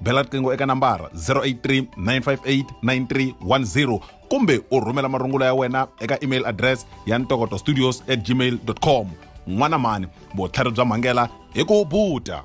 bela riqingho eka nambara 083 958 9310 kumbe u rhumela marungula ya wena eka email address ya ntokoto studios at gmail com n'wana mhani vutlhari bya mhangela hi ku buta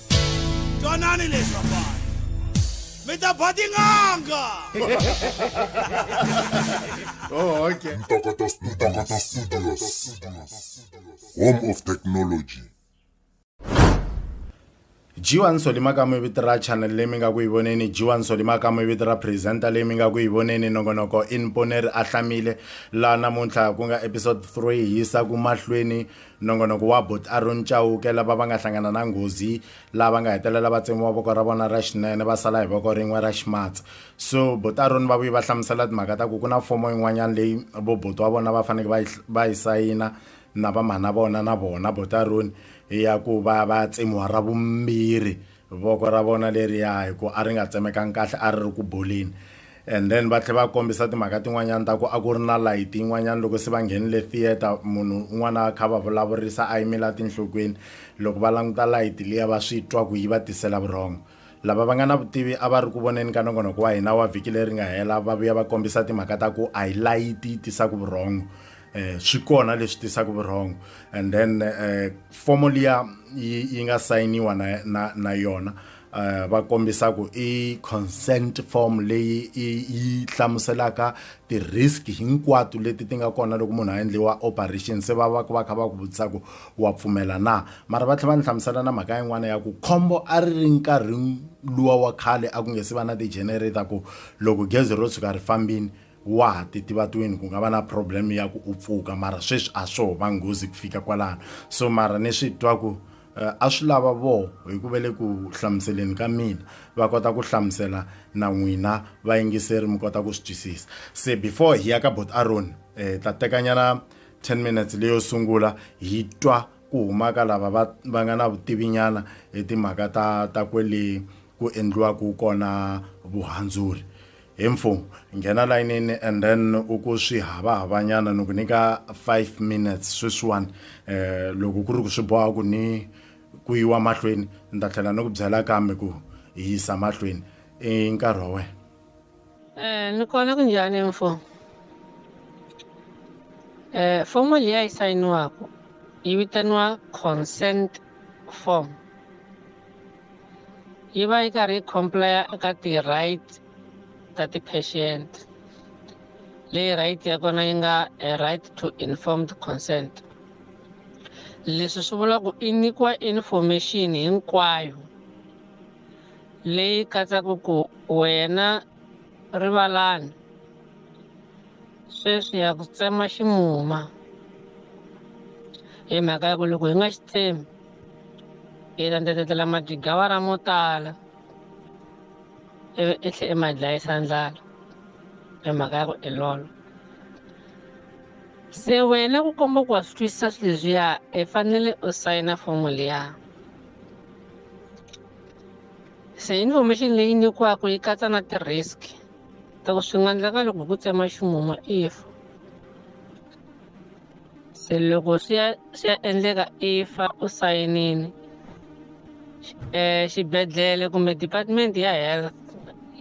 twanani leswi vafana mi ta ba tin'anga oh, okay. Ntokoto Studios. Home of Technology. jiwa nsoli makamu vito ra channel leyi mi nga ku yi voneni jiwa nsoli makamu vito ra presenter leyi mi nga ku yi voneni nongonoko inponeri a hlamile laha namuntlha ku nga episode 3 yisa ku mahlweni Nongonoko wa Buti Aaron Chauke lava va nga hlangana na nghozi lava nga hetelela va tsemiwa voko ra vona ra xinene va sala hi voko rin'we ra ximatsi so Buti Aaron va vuye va hlamusela timhaka ta ku ku na fomo yin'wanyana leyi vo buti wa vona va faneke va yi va yi sayina na vamhana vona na vona Buti Aaron ya ku va va ya tsemiwa ra vumbirhi voko ra vona leriya hi ku a ri nga tsemekangi kahle a ri ri ku boleni and then va tlhela va kombisa timhaka tin'wanyana ta ku a ku ri na layiti yin'wanyana loko se va nghenile theatre munhu un'wana a kha va vulavurisa a yimela tinhlokweni loko va languta layiti liya va swi twa ku yi va tisela vurhongo lava va nga na vutivi a va ri ku voneni ka nongonoko wa hina wa vhiki leri nga hela va vuya va kombisa timhaka ta ku a hi layiti yi tisaka vurhongo eh swi kona leswi tisaka vurhongo and then eh fomo liya yi nga sayiniwa na na, na yona eh va kombisa ku i consent form leyi yi hlamuselaka ti risk hinkwato leti ti nga kona loko munhu a endliwa operation se va va ku va kha va ku vutisa ku wa pfumela na mara va tlhela va ni hlamusela na mhaka yin'wana ya ku khombo a ri ri nkarhi luwa wa khale a ku nge se va na ti-generator ku loko gezi ro tshuka ri fambini wa ha titivatweni ku nga va na problem ya ku u pfuka mara sweswi a swo va nghozi ku fika kwalano so mara ni swi twa ku eh, a swi lava voho hi ku ve le ku hlamuseleni ka mina va kota ku hlamusela na n'wina vayingiseri mi kota ku swi twisisa se before hi ya ka bot aron um eh, ta tekanyana 10 minutes leyo sungula hi twa ku humaka lava va va nga na vutivinyana hi timhaka ta ta kwele ku endliwaka kona vuhandzuri Hi mfu, nghena layinini and then u ku swi havahavanyana ni ku nyika five minutes sweswiwani eh, loko ku ri ku swi boha ku ni ku yiwa mahlweni ni ta tlhela ni ku byela kambe ku hi yisa mahlweni i nkarhi wa wena Eh, ni kona ku njhani mfo eh, fomo liya yi sayiniwaku yi vitaniwa consent form yi va yi karhi yi complire eka ti-right ta ti-patient leyi right ya kona yi nga a right to informed consent leswi swi vula ku i nyikiwa information hinkwayo leyi katsaka ku wena rivalani sweswi ya ku tsema ximuma hi mhaka ya ku loko hi nga xi tsemi Hi landzelela majigawara mo tala ivi i tlhe i ma dlayisa ndlala hi mhaka ya ku i lolo se wena ku komba ku wa swi twisisa swi leswiya i fanele u sayina fomo liya se information leyi nyikiwaku yi katsa na ti-risk ta ku swi nga ndleka loko hi ku tsema ximumu if se loko swi ya swi ya endleka i fa u sayinile um xibedhlele kumbe department ya health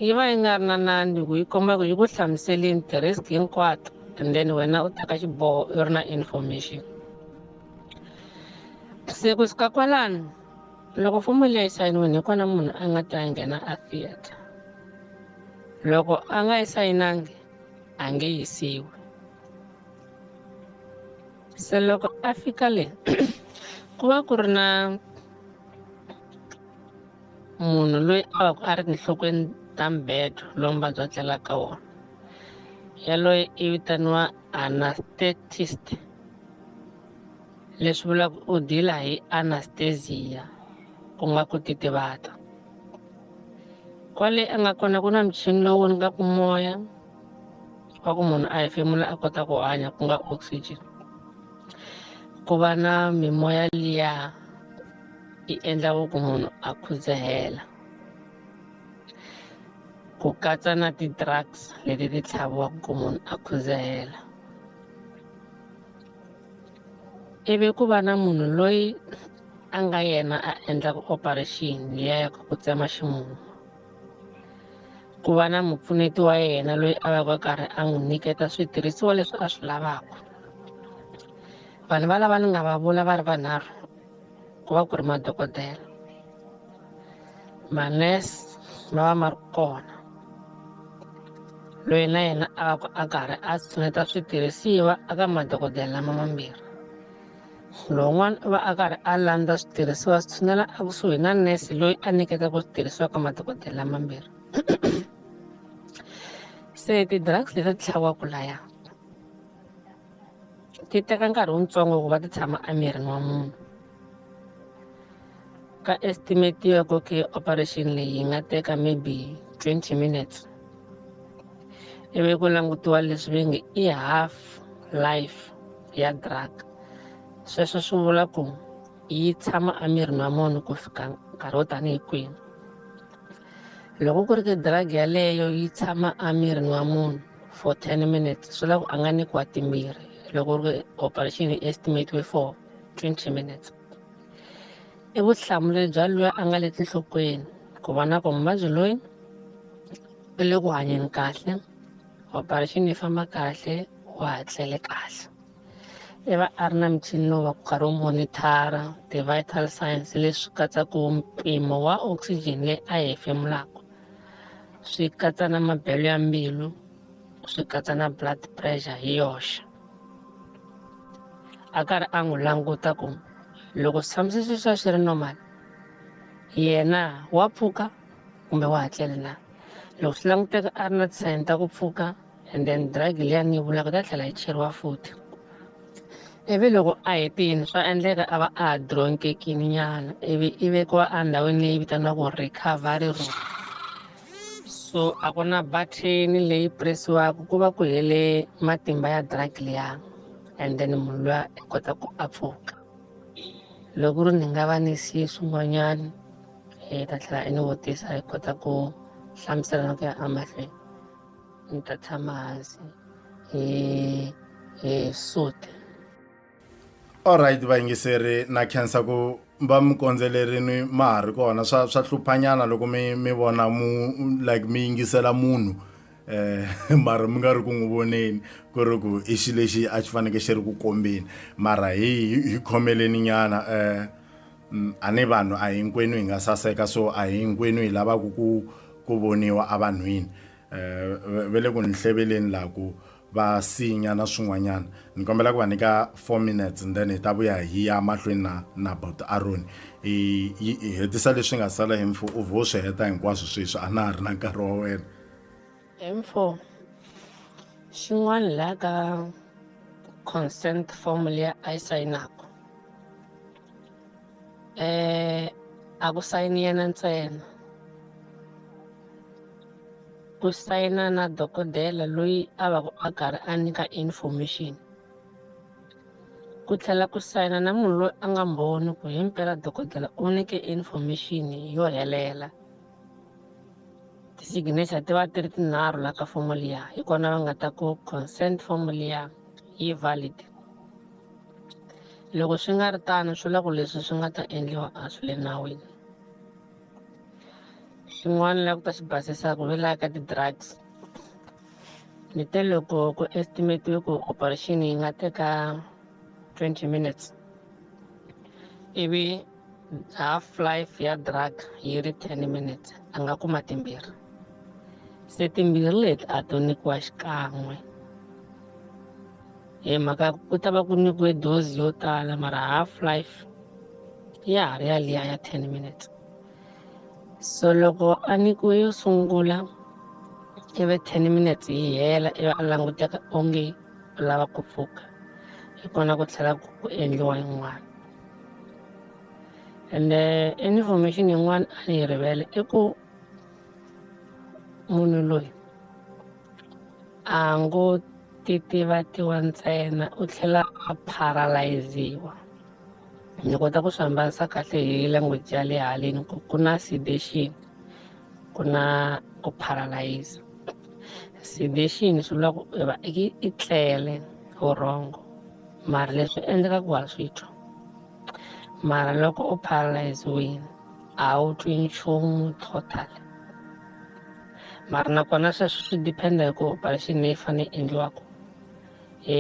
yi va yi nga ri na nandzi ku yi komba ku yi ku hlamuselini ti-risk hinkwato and then wena u teka xiboho u ri na information se ku suka kwalano loko fomo leyi yi sayiniwini hi kona munhu a nga ta nghena a theatre loko a nga yi sayinangi a nge yisiwi se loko a fika le ku va ku ri na munhu loyi a va ku a ri tinhlokweni ta mbedo lowu muvabyi a tlelaka wona yaloye i vitaniwa anesthetist leswi vulaka u dila hi anesthesia ku nga ku titivata kwale a nga kona ku na michini lowu ni nga ku moya swa ku munhu a hefemula a kota ku hanya ku nga oxygen ku va na mimoya liya yi endlaka ku munhu a khudzahela ku katsa na ti-drugs leti ti tlhaviwaka ku munhu a khudzahela ivi ku va na munhu loyi a nga yena a endlaka operation liya ya ku tsema ximumu. ku va na mupfuneti wa yena loyi a va ka karhi a n'wi nyiketa switirhisiwa leswi a swi lavaka vanhu va lava ni nga va vula va ri vanharhu ku va ku ri madokodela manese ma va ma ri kona loyi na yena a va ku a karhi a tshineta switirhisiwa eka madokodela lama mambirhi Lowun'wana u va a karhi a landza switirhisiwa swi tshinela ekusuhi na nurse loyi a nyiketa ku switirhisiwa ka madokodela mambirhi se ti-drugs leti ti tlhaviwaka laya ti teka nkarhi wutsongo ku va ti tshama emirini wa munhu Ka estimatiwa ku ke operation leyi yi nga teka maybe 20 minutes ivi ku langutiwa leswi ve nge i half life ya drug sweswo swi vula ku yi tshama emirini wa munhu ku fika nkarhi wo tanihi kwihi loko ku ri ke drug yaleyo yi tshama emirini wa munhu for 10 minutes swi la ku a nga nyikiwa timbirhi loko ri operation yi estimatiwe for 20 minutes i vutihlamuleri bya loyi a nga le tinhlokweni ku vona ku muvabyi loyi u le ku hanyeni kahle operation yi famba kahle wa ha tlele kahle i va a ri na michini lowu va ku karhi wu monithara ti-vital science leswi katsaka mpimo wa oxygen leyi a yi hefemulaka swi katsa na mabelo ya mbilu swi katsa na blood pressure hi yoxe a karhi a n'wi languta ku loko swi tshamise sweswi a xi ri normal yena wa pfuka kumbe wa hatlele na loko swi languteka a ri na tisayin ta ku pfuka and then drug liyani yi vulaka ta tlhela yi cheriwa futhi ivi loko a hetini swa endleka a va a ha dronkekini nyana ivi i vekiwa endhawini leyi vitaniwaka recovery room So a ku na button leyi presiwaka ku va ku hele matimba ya drug liya and then munhu luya i kota ku a pfuka loko ri ni nga va ni siye swin'wanyana hi ta tlhela i ni vutisa hi kota ku hlamusela na ku ya emahlweni ni ta tshama hansi hi hi suti Alright vayingiseri na khensa ku va mi kondzelerini ma ha ri kona swa swa hluphanyana loko mi mi vona mu like mi yingisela munhu eh mara mi nga ri ku n'wi voneni ku ri ku i xi lexi a xi faneke xi ri ku kombeni mara hi hi- hi khomeleni nyana eh mm, a ni vanhu a hinkwenu hi nga saseka so a hinkwenu hi lavaka ku ku voniwa evanhwini va le ku ni hleveleni la ku va sinya na swin'wanyana ni kombela ku va nyika four minutes and then hi ta vuya hi ya mahlweni na na about aroni hi hetisa leswi nga sala hi mfo u vho swi heta hinkwaswo sweswi a na ha ri na nkarhi wa wena info xin'wana la ka consent form leyi a yi sayinaka um a ku sayini yena ntsena ku sayina na dokodela loyi a va ku a karhi a nyika information ku tlhela ku sayina na munhu loyi a nga mbhoni ku hi mpela dokodela u nyike information yo helela ti-signature ti va ti ri tinharhu la ka fomo liya hi kona va nga ta ku consent form liya yi valid loko swi nga ri tano swi la ku leswi swi nga ta endliwa a swi le nawini swin'wana la ku ta xi basisa ku lwela ka ti-drugs ni te loko ku estimatiwe ku operation yi nga teka 20 minutes ivi half life ya drug yi ri 10 minutes a nga kuma timbirhi se timbirhi leti a to nyikiwa xikan'we hi mhaka ku ta va ku nyikiwe dozi yo tala mara half life ya ha ri yaliya ya ten minutes so loko a nyikiwe yo sungula ivi ten minutes yi hela ivi a languteka onge u lava ku pfuka hi kona ku tlhela ku endliwa yin'wana and eh, information yin'wana a ni yi rivele i ku munhu loyi a ngo titivatiwa ntsena u tlhela a paralyziwa ni kota ku swi hambanisa kahle hi language ya le haleni ku ku na sedation ku na ku paralyze sedation swi vula ku va i tlele vurhongo mara leswi endleka ku wa swi twa mara loko u paralyziwile a wu twi nchumu total mara nakona sweswo swi dependa hi ku operation leyi fanele yi endliwaka e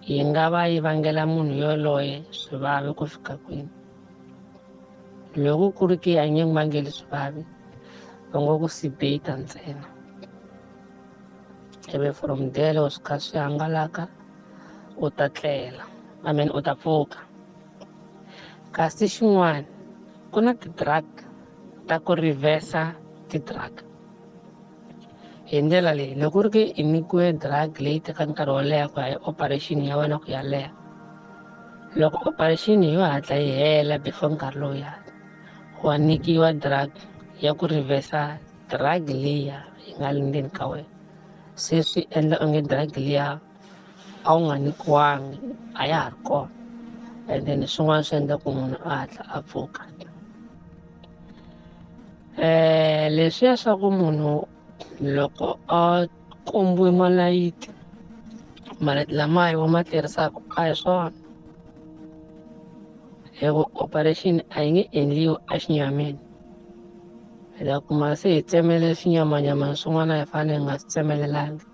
yi nga va yi vangela munhu yoloye swivavi ku fika kwini loko ku ri ki a nge n'wi vangeli swivavi va ngo ku sibeta ntsena ivi from there loko swi kha swi hangalaka u ta tlela i mean u ta pfuka Kasi xin'wana, ku na ti-drug ta ku reversa ti-drug. Hi ndlela leyi, loko u ri ke i nyikiwe drug leyi teka nkarhi wo leha ku ya hi operation ya wena ku ya leha, loko operation yo hatla yi hela before nkarhi lowuya wa nyikiwa drug ya ku reversa drug liya yi nga le ndzeni ka wena. Se swi endla onge drug liya a wu nga nyikiwangi a ya ha ri kona and then swin'wana swi endla ku munhu a hatla a pfuka um leswiya swa ku munhu loko a kombiwe malayiti malayiti lamaya wa ma tirhisaka a hi swona hi ku operation a yi nge endliwi a xinyamini hi ta kuma se hi tsemele swinyamanyamana swin'wana hi fanele hi nga swi tsemelelanga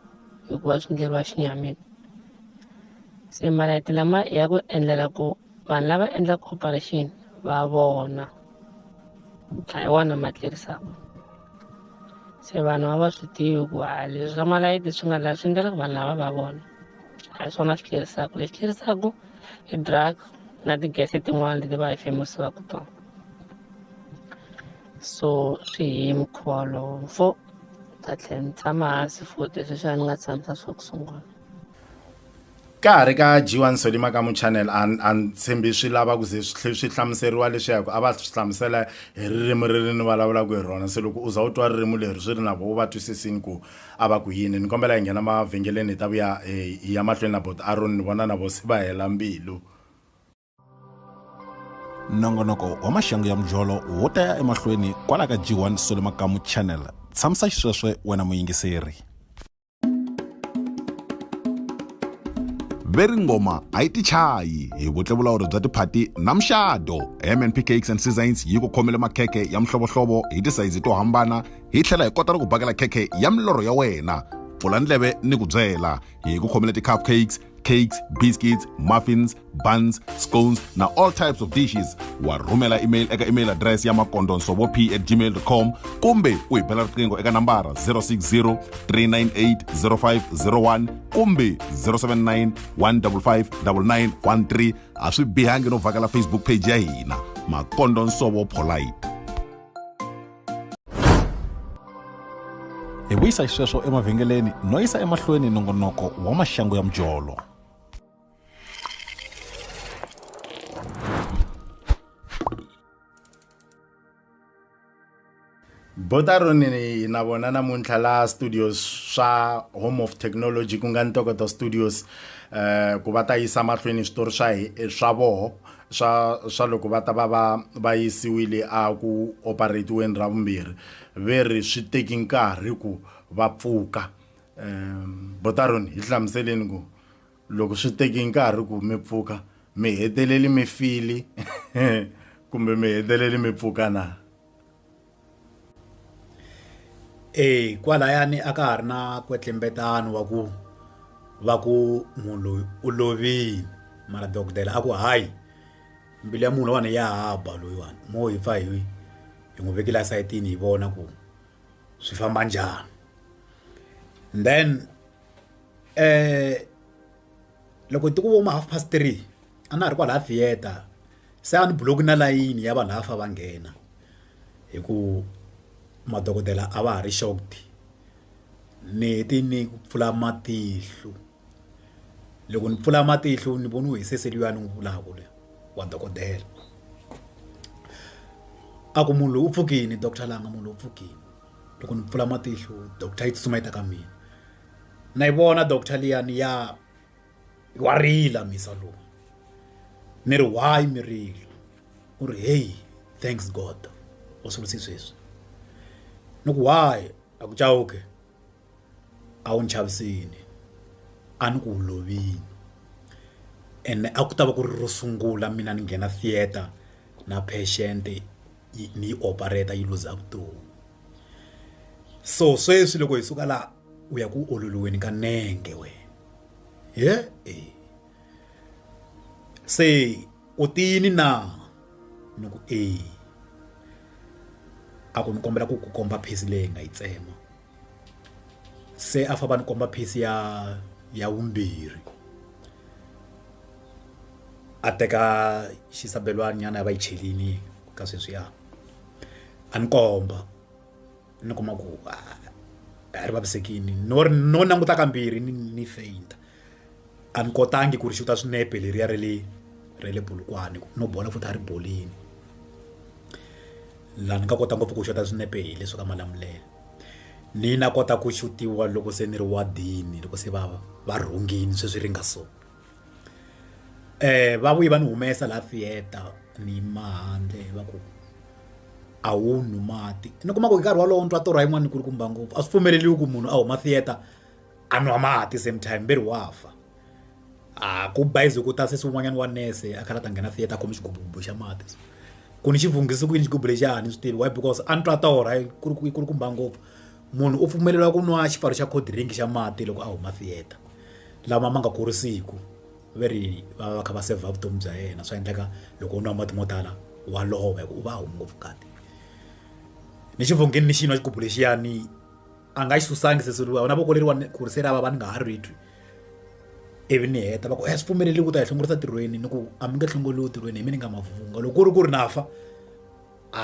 hikuva swi endleriwa xinyamini se malayiti lama ya ku endlela ku vanhu lava endlaka operation va vona a hi wona ma tlerisaka se vanhu a va swi tivi ku a leswi swa malayiti swi nga la swi endlela ku vanhu lava va vona a hi swona swi tlerisaka lexi tlerisaka i drug na ti-gas tin'wana leti va hi femiwaka tona so swi hi mukhuva lowu fo ta tlhela ni tshama hansi futhi leswi a ni nga tshamisa swa ku sungula ka ha ri ka jiwa nsoli makamu channel a ni tshembi swi lava ku ze swi swi hlamuseriwa leswi ya ku a va swi hlamusela hi ririmi ri ri ni vulavulaka hi rona se loko u za u twa ririmi leri swi ri na vo va twisisini ku a va ku yini ni kombela hi nghena mavhengeleni hi ta vuya hi ya mahlweni na bot aron ni vona na vo se va hela mbilu nongonoko wa maxangu ya mujolo wo ta ya emahlweni kwala ka g1 sole makamu channel tshamisa xisweswe wena muyingiseri veri ngoma a yi tichayi hi vutlevulawuri bya tiphati na muxado mnp cakes and seasons yi ku khomele makhekhe ya mihlovohlovo hi tisayizi to hambana hi tlhela hi kota ni ku bakela khekhe ya milorho ya wena pfula ndleve ni ku byela hi ku khomele ti-cupcakes cakes biscuits muffins buns scones na all types of dishes wa rhumela email eka email address ya makondonsovo p at gmail com kumbe u hi bela riqingho eka nambara 060 398 0501 kumbe 079 155 9913 a swi bihangi no vhakela facebook page ya hina makondonsovo polite hi vuyisa xisweswo emavhengeleni no yisa emahlweni nongonoko wa maxangu ya mujolo botaronini na vona namuntlha la studios swa home of technology ku nga ntokoto studios um ku va ta yisa mahlweni switori swa swa voho swa swa loko va ta va va va yisiwile a ku operatiweni ra vumbirhi ve ri swi teki nkarhi ku va pfuka um botaron hi hlamuseleni ku loko swi teki nkarhi ku mi pfuka mi heteleli mi fili kumbe mi heteleli mi pfuka na Eya kwalayani a ka ha ri na nkwetlembetana wa ku va ku munhu loyi u lovile mara dokodela a ku hayi mbilu ya munhu loyiwani ya ha ba loyiwani mo hi pfa hi hi n'wi vekela sayitini hi vona ku swi famba njhani then . Loko ti ku vo ma half past three a na ha ri kwalaya theater se a ni block na layini ya vanhu lava a fa va nghena hi ku madokodela a va ha ri shocked ni hete ni ku pfula matihlo loko ni pfula matihlo ni voniwe hi sesi luyani n'wi vulaka luya wa dokodela a ku munhu loyi u pfukini doctor langa munhu loyi u pfukini loko ni pfula matihlo doctor yi tsutsuma yi ta ka mina. na yi vona doctor liyani ya wa rila mhisa lowu mi ri why mi rila u ri hey thanks god u sunguse sweswi ni ku why a ku chawuke a wu ni chavisini a ni ku wu lovini ene a ku ta va ku ri ro sungula mina ni nghena theatre na patient ni yi operator yi luza vutomi. so sweswi loko hi suka laha u ya ku ololiweni ka nenge wena he e se u tiyini na ni ku e a ku ni kombela ku ku komba phesi leyi nga yi tsema se a famba ni komba phesi ya ya vumbirhi a teka xisabelwana nyana ya va yi chelini ka sweswiya a ni komba ni kuma ku a ri vavisekile no no languta kambirhi ni ni faint a ni kotangi ku ri xuta swinepe leriya ra le ra le bulukwane no bola futhi a ri bolini laha ni nga kota ngopfu ku xuta swinepe hi leswi ka malamulelo ni na kota ku xutiwa loko se ni ri wadini loko se va va rhungile sweswi ri nga so. Va vuye va ni humesa laha theater ni yima handle va ku a wu nwi mati ni kuma ku hi nkarhi wolowo ni twa torha yin'wana yikulukumba ngopfu a swi pfumeleriwi ku munhu a huma theater a nwa mati same time ve ri wa fa a ku bayiza ku ta sesi wun'wanyana wa nurse a karhi a ta nghena theater a khome xigubububu xa mati so ku ni xi vunghise ku yini xigubu lexiya a ni swi tivi why because a ni twa torha yi kulukumba ngopfu. Munhu u pfumeleriwa ku nwa xipfalo xa cold drink xa mati loko a huma theater lama ma nga kurisiki ve ri va va va kha va saver vutomi bya yena swa endleka loko u nwa mati mo tala wa lova hi ku u va a humi ngopfu ngati ni xivhongini ni xi nwa xigubu lexiyani a nga xi susa ngi se swi vona voko leriwani ku ri se ra vava ni nga ha ri twi ivi ni heta va ku a swi pfumeleriwi ku ta hi hlongorisa ntirhweni ni ku a mi nge hlongoriwi ntirhweni hi mi ni nga mavunwa loko ku ri ku ri na fa. a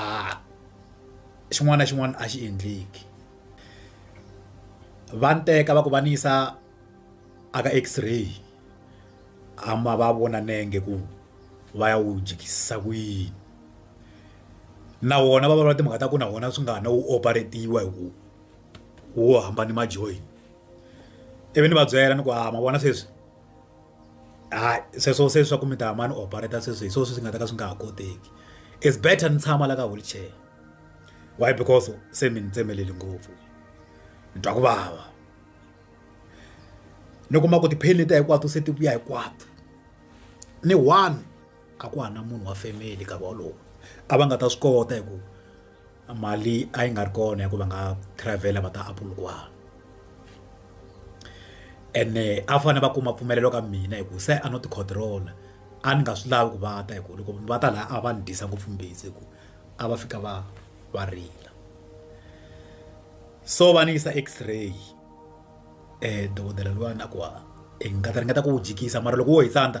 xin'wana na xin'wana a xi endleki va ni teka va ku va ni yisa a ka X-ray a ma va vona nenge ku va ya wu jikisisa ku yini na wona va vulavula timhaka ta ku na wona swi nga ha na wu operate-iwa hi ku wo hambana ma-join ivi ni va byela ni ku ha ma vona sweswi. Hayi sweswo se swa ku mi ta ma ni operate sweswi hi swona swi nga ta ka swi nga ha koteki is better ni tshama la ka wheelchair why because se mi ni tsemelele ngopfu ni twa ku vava ni kuma ku ti-pain letiya hinkwato se ti vuya hinkwato ni one a ku ha na munhu wa family nkarhi wolowo a va nga ta swi kota hi ku. mali a yi nga ri kona ya ku va nga travel va ta Apple kwala ene a fane va kuma mpfumelelo ka mina hi ku se a no ti control a ni nga swi lavi ku va ta hi ku loko va ta laha a va ni dyisa ngopfu mbilu hi ku a va fika va va rila so va ni yisa X-ray dokodela luya na ku i nga ta ringeta ku wu dyikisa mara loko wo hi tsandza.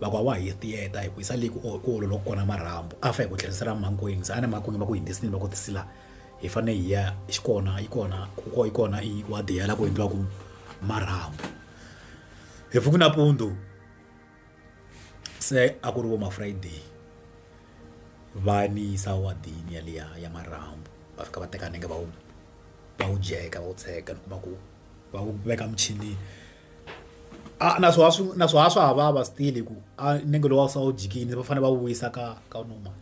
va ku a wa ha yisi theater hi ku yisa le ku ku ololoka kona marhambu a fa hi ku tlherisela emakwenu se a ni emakwenu va ku hindzi sini va ku tisila hi fane hi ya xi kona yi kona ku ko yi kona i wa diyela ku endliwaku marhambu hi pfuki nampundzu se a ku ri vo ma Friday va ni yisa wadini yaliya ya marhambu va fika va teka nenge va wu va wu dyeka va wu tsheka ni kuma ku. va ku veka muchini a na swo swi na swo ha swa ha vava still hi ku a nenge lowu a wu se wu jikini va fanele va wu vuyisa ka ka normal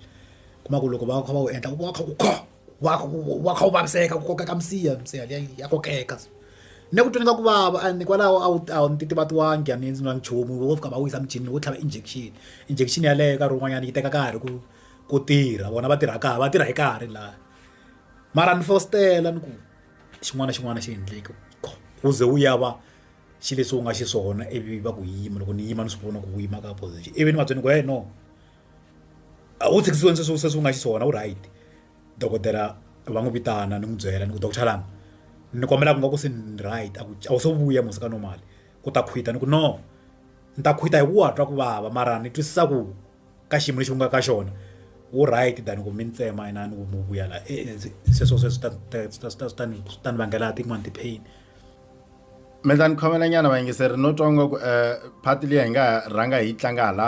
kuma ku loko va kha va wu endla wa kha ku kha wa kha wa kha wu vaviseka ku kokeka misiha misiha liya ya kokeka ne ku tweni ka ku vava and kwalaho a wu a wu titivatiwangi a ni endzi na nchumu wo fika va wisa muchini wo tlhava injection injection yaleyo nkarhi wun'wanyana yi teka nkarhi ku ku tirha vona va tirha kahle va tirha hi nkarhi laha mara ni fositela ni ku. xin'wana na xin'wana xi endleke ku ze wu ya va xi leswi wu nga xiswona ivi va ku yima loko ni yima ni swi vona ku yima ka position ivi ni va byela ku he no a wu tshikisiweni sweswi sweswi wu nga xiswona wu right dokodela va n'wi vitana ni n'wi byela ni ku doctor lani ni kombela ku nga ku se ni right a ku a wu se vuya musi ka normal ku ta khwita ni ku no ni ta khwita hi ku wa twa ku vava mara ni twisisa ku ka xiyimo lexi u nga ka xona wu right than ku mi ni tsema inana ku mi vuya la sweswo se swi ta swi ta swi ta swi ta ni swi ta ni vangela tin'wani ti-pain mi ta ni khomela nyana vayingiseri no twa nga ku um phati leyi hi nga ha rhanga hi yi tlanga hala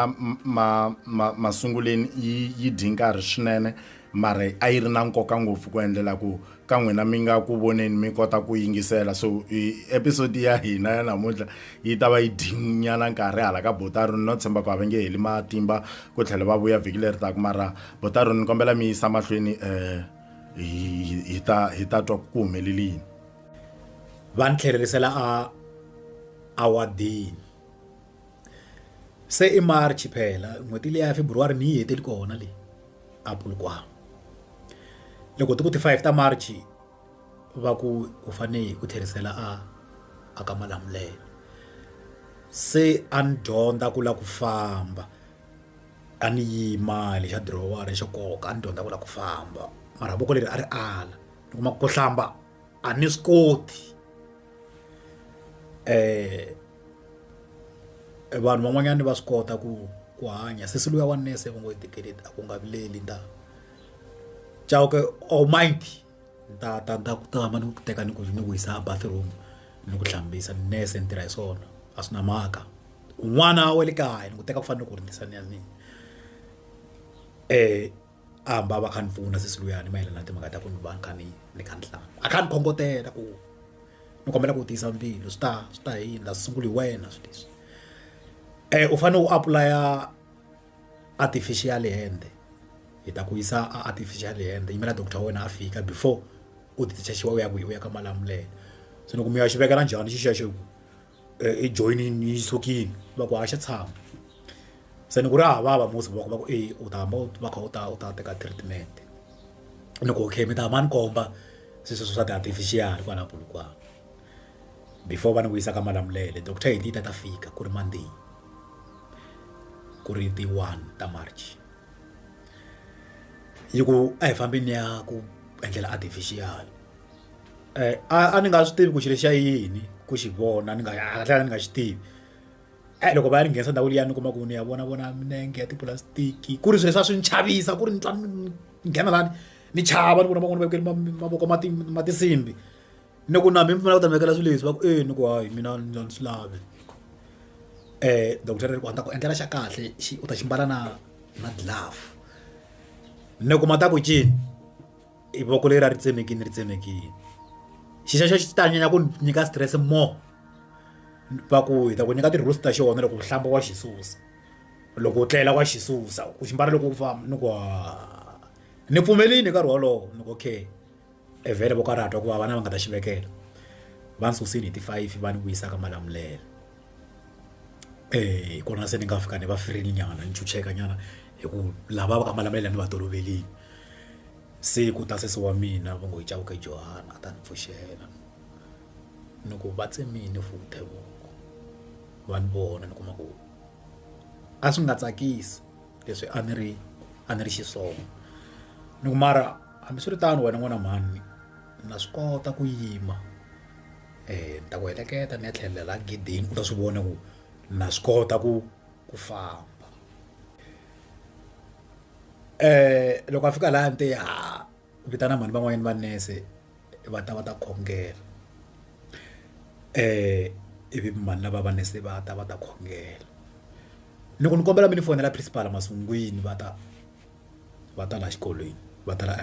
ma ma masunguleni yi yi dyi nkarhi swinene mara a yi ri na nkoka ngopfu ku endlela ku ka n'wina mi nga ku voneni mi kota ku yingisela so episode ya hina ya namuntlha yi ta va yi dyinyana nkarhi hala ka botaroni no tshemba ku a va nge heli matimba ku tlhela va vuya vhiki leri taku mara botaroni ni kombela mi yisa mahlweni um hi ta hi ta twa ku humelelini va ni tlherisela a awadini se i March phela n'hweti liya ya February ni yi hetile kona leyi a Polokwane loko ti ku ti five ta March va ku u fane hi ku tlherisela a a ka Malamulele se a ni dyondza ku lava ku famba a ni yima le xa dirowara xo koka a ni dyondza ku lava ku famba mara voko leri a ri ala ni kuma ku hlamba. a ni swi koti um vanhu van'wanyani va swi kota ku ku hanya sesi luya wa nurse va ngo i tikeleti a ku nga vileli ni ta chauke or mind ni ta ta ni ta ku tama ni ku teka ni ku ni ku yisa a bathroom ni ku hlambisa nurse ni tirha hi swona a swi na mhaka un'wana wa le kaya ni ku teka ku fanele ku ri ni sa ni ya ni um a hamba a va kha ni pfuna sesi luyani mayelana na timhaka ta ku ni va ni kha ni ni kha ni tlanga a kha ni khongotela ku ni kombela ku tiyisa mbilu swi ta swi ta hi yini la sunguli hi wena swi leswi um u fanele u apulaya artificial hand hi ta ku yisa a artificial hand yimela doctor wa wena a fika before u ti chachiwa u ya kwihi u ya ka malamulele se ni ku mi ya xi vekela njhani xi xexo ku i joyinini yi sukile va ku haxa tshama se ni ku ri hava va musi va ku va ku eyi u ta hamba u va kha u ta u ta teka treatment ni ku okay mi ta hamba ni komba se sweswo swa ti-artificial kwala Polokwane before va ni vuyisa ka Malamulele doctor hi ta ta fika ku ri Monday ku ri ti one ta March yi ku a hi fambeni ni ya ku endlela artificial. a a ni nga swi tivi ku xilo xa yini ku xi vona ni nga a tlhela ni nga xi tivi e loko va ya ni nghenisa ndhawu liya ni kuma ku ni ya vona vona minenge ya tipulastiki ku ri swilo leswi a swi ni chavisa ku ri ni twa ni nghena lani ni chava ni vona van'wana va vekele mavoko ma ti ma tinsimbhi ni ku na mina ni pfumela ku ta mi vekela swilo leswi va ku e ni ku hayi mina ni ni swi lavi dokodela ri ku a ni ta ku endlela xa kahle xi u ta xi mbala na na glove ni ku ma ta ku cini. i voko leri a ri tsemekini ri tsemekini xi xexo xi ta nyanya ku nyika stress more va ku hi ta ku nyika ti-rules ta xona loko u hlamba wa xi susa loko u tlela wa xi susa u xi mbala loko u famba ni ku ha ni pfumelini hi nkarhi wolowo ni ku okay e vhele voko a ri hatwa ku va vana va nga ta xi vekela va ni susile hi ti-five va ni vuyisaka malamulelo. Eya hi kona se ni nga fika ni va ferile nyana ni chucheka nyana hi ku lava va ka Malamulele ni va toloverile se ku ta sesi wa mina va ngo hi Chauke Johan a ta ni pfuxela ni ku va tsemile futhi hi voko va ni vona ni kuma ku a swi nga tsakisi leswi a ni ri a ni ri xiswona ni ku mara hambiswiritano wena n'wana mhani na swi kota ku yima. ni ta ku heleketa ni ya tlhelela laha gedeni u ta swi vona ku na swi kota ku ku famba loko a fika laha a ni te ha vitana mhani van'wanyana va nurse va ta va ta khongela ivi mhani lava va nurse va ta va ta khongela ni ku ni kombela mi ni fonela principal masungwini va ta. va ta laha xikolweni va ta la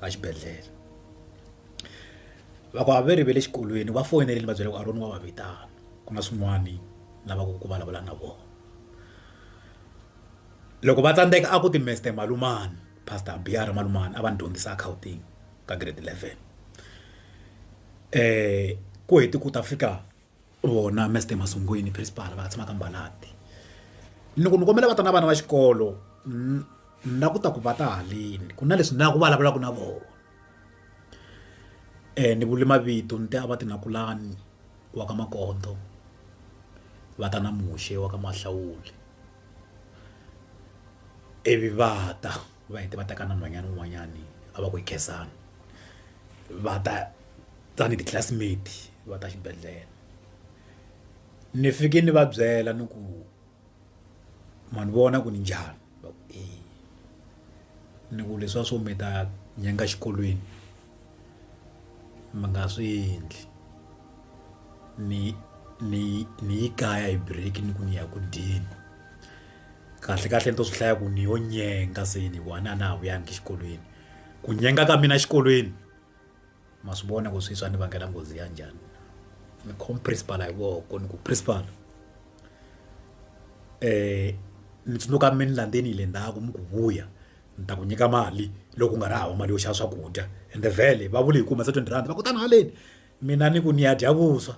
exibedhlele loko a va ri va le xikolweni va foyinela ni va byela ku a ri n'wi va va vitana ku na swin'wani lavaka ku vulavula na vona loko va tsandzeka a ku ti meste malume pastor biya ra malume a va ni dyondzisa accounting ka grade eleven ku heti ku ta fika. Vona Mister Masongweni principal va tshamaka Mbalati ni ku ni kombela va ta na vana va xikolo na ku ta ku va ta haleni ku na leswi na ku vulavulaka na vona ni vule mavito ni te a va ti na kulani wa ka makondzo va ta na muxe wa ka Mahlawuli ivi va ta. va hete va teka na nhwanyana wun'wanyani a va ku i khensani va ta tani ti classmate va ta xibedhlele ni fike ni va byela ni ku ma ni vona ku ni njhani va ku e ni ku leswiya swo mi ta nyenga xikolweni mi nga swi endli ni ni ni yi kaya hi break ni ku ni ya ku dyeni. kahle kahle ni to swi hlaya ku ni yo nyenga se ni one a na ha vuyangi exikolweni ku nyenga ka mina exikolweni ma swi vona ku swi swa ni vangela nghozi ya njhani ni khom principal hi voko ni ku principal um mi tsundzuka mi ni landzeni hi le ndzhaku mi ku vuya ni ta ku nyika mali loko ku nga ri hava mali yo xava swakudya ende vhele va vule hi ku humesa twenty rhandi va ku tani haleni mina ni ku ni ya dya vuswa.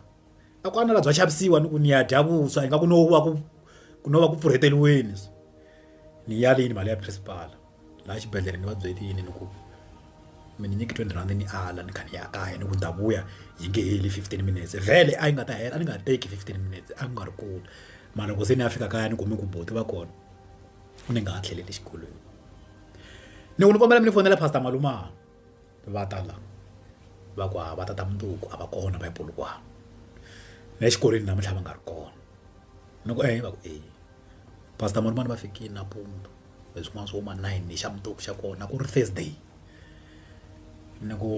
a ku anela bya xavisiwa ni ku ni ya dya vuswa ingaku no va ku ku no va ku pfurheteriweni so ni ya lini mali ya principal laha xibedhlele ni va byelini ni ku mi ni nyike twenty rhandi ni ala ni kha ni ya kaya ni ku ni ta vuya yi nge heli fifteen minutes vhele a yi nga ta hela a ni nga teki fifteen minutes a ku nga ri kona mara loko se ni ya fika kaya ni kume ku buti va kona ni nga ha tlheleli xikolweni ni ku ni kombela mi ni fonela pastor malumana va ta la va ku hava tata mundzuku a va kona va ya polokwane na le xikolweni namuntlha va nga ri kona ni ku eya va ku eya pastor marimani va fikile nampundzu hi swin'wana swo ma nine ni xa mundzuku xa kona ku ri Thursday ni ku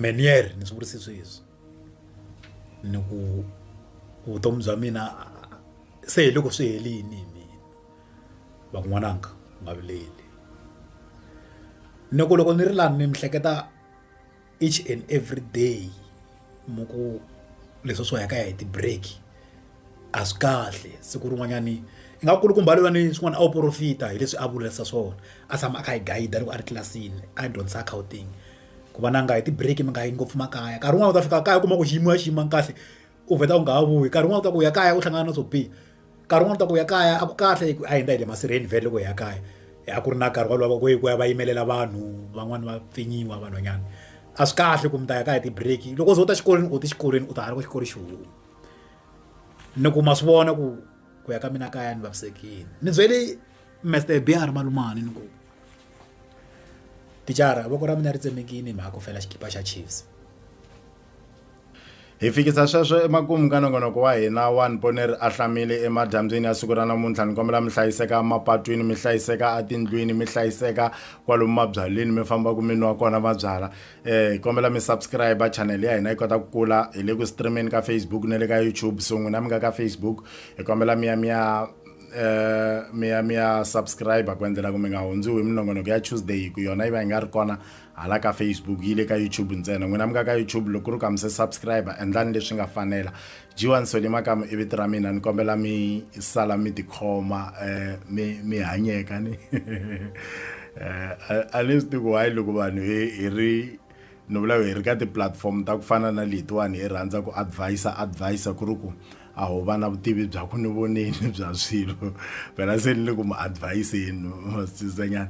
me ni ye ri ni swi vurisi sweswi ni ku vutomi bya mina se hi loko swi helini. van'wananga u nga vileli ni ku loko ni ri lani ni hleketa each and every day mi ku leswi swo ya ka ya hi ti-break a swi kahle siku rin'wanyani i nga kulukumba loyi a ni swin'wana a wu porofita hi leswi a vulisa swona a tshama a kha hi gayida loko a ri tlilasini a hi dyondzisa Gauteng ku va na nga hi ti-break mi nga yi ngopfu makaya nkarhi wun'wani u ta fika kaya u kuma ku xiyimo ya xiyimo kahle. u vheta u nga ha vuyi nkarhi wun'wana u ta ku u ya kaya u hlangana na swo biha nkarhi wun'wana u ta ku u ya kaya a ku kahle hi ku a hi ndza hi le masirheni vhele loko hi ya kaya a ku ri na nkarhi wolowo ku ya va yimelela vanhu van'wani va pfinyiwa vanhwanyana a swi kahle ku mi ta ya kaya ti-break loko u ze u ta xikolweni u te xikolweni u ta ha loko xikolo xi huma ni ku ma swi vona ku ku ya ka mina kaya ni vavisekile ni byele Mister Biyar Malumani ni ku tichara voko ra mina ri tsemekile hi mhaka ku fela xikipa xa Chiefs. hi fikisa sweswo emakumu ka nongonoko wa hina wa ni pone ri ahlamile emadyambyini ya siku ra namuntlha ni kombela mi hlayiseka mapatwini mi hlayiseka atindlwini mi hlayiseka kwalomu mabyalwini mi fambaka mi nwa kona mabyala eh hi kombela mi subscribe channel ya hina yi kota ku kula hi le ku streameni ka facebook na le ka youtube so n'wina mi nga ka facebook hi kombela mi ya mi ya eh mi ya mi ya subscribe ku endlela ku mi nga hundziwi hi minongonoko ya tuesday hi ku yona yi va yi nga ri kona hala ka facebook yi le ka youtube ntsena n'wina mi nga ka youtube loko ku ri ka mi se subscribe endlani leswi nga fanela jiwa ni sole makamu i vito ra mina ni kombela mi sala mi tikhoma um mi mi hanyeka ni um a ni swi tiku why loko vanhu hi hi ri ni vula hi ri ka ti-platform ta ku fana na letiwani hi rhandza ku advisa advisa ku ri ku a ho va na vutivi bya ku ni voneni bya swilo phela se ni le ku mi adviseni masizanyana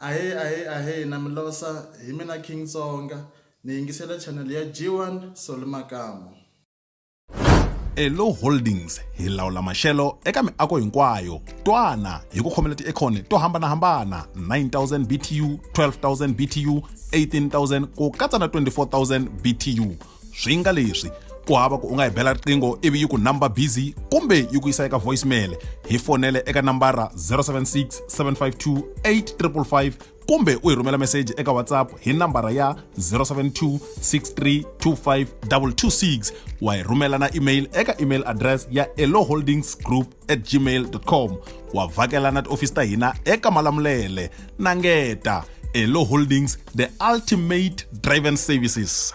ahee ahee ahee na milosa hi mina king tsonga ni yingisela channel ya g1 soli makamu elo holdings hi lawula maxelo eka miako hinkwayo twana hi ku khomela tiekhoni to hambanahambana 9000 btu 12000 btu 18000 ku katsa na 24000 btu swi nga leswi ku hava ku u nga hi bela riqingho ivi yi ku number busy kumbe yi ku yisa eka voicemail hi fonele eka nambara 076 752 8555 kumbe u hi rhumela meseji eka whatsapp hi nambara ya 072 6325226 wa hi rhumela na email eka email address ya eloholdingsgroup at gmail.com wa vhakela na tiofisi ta hina eka malamulele na ngeta elo holdings the ultimate driven services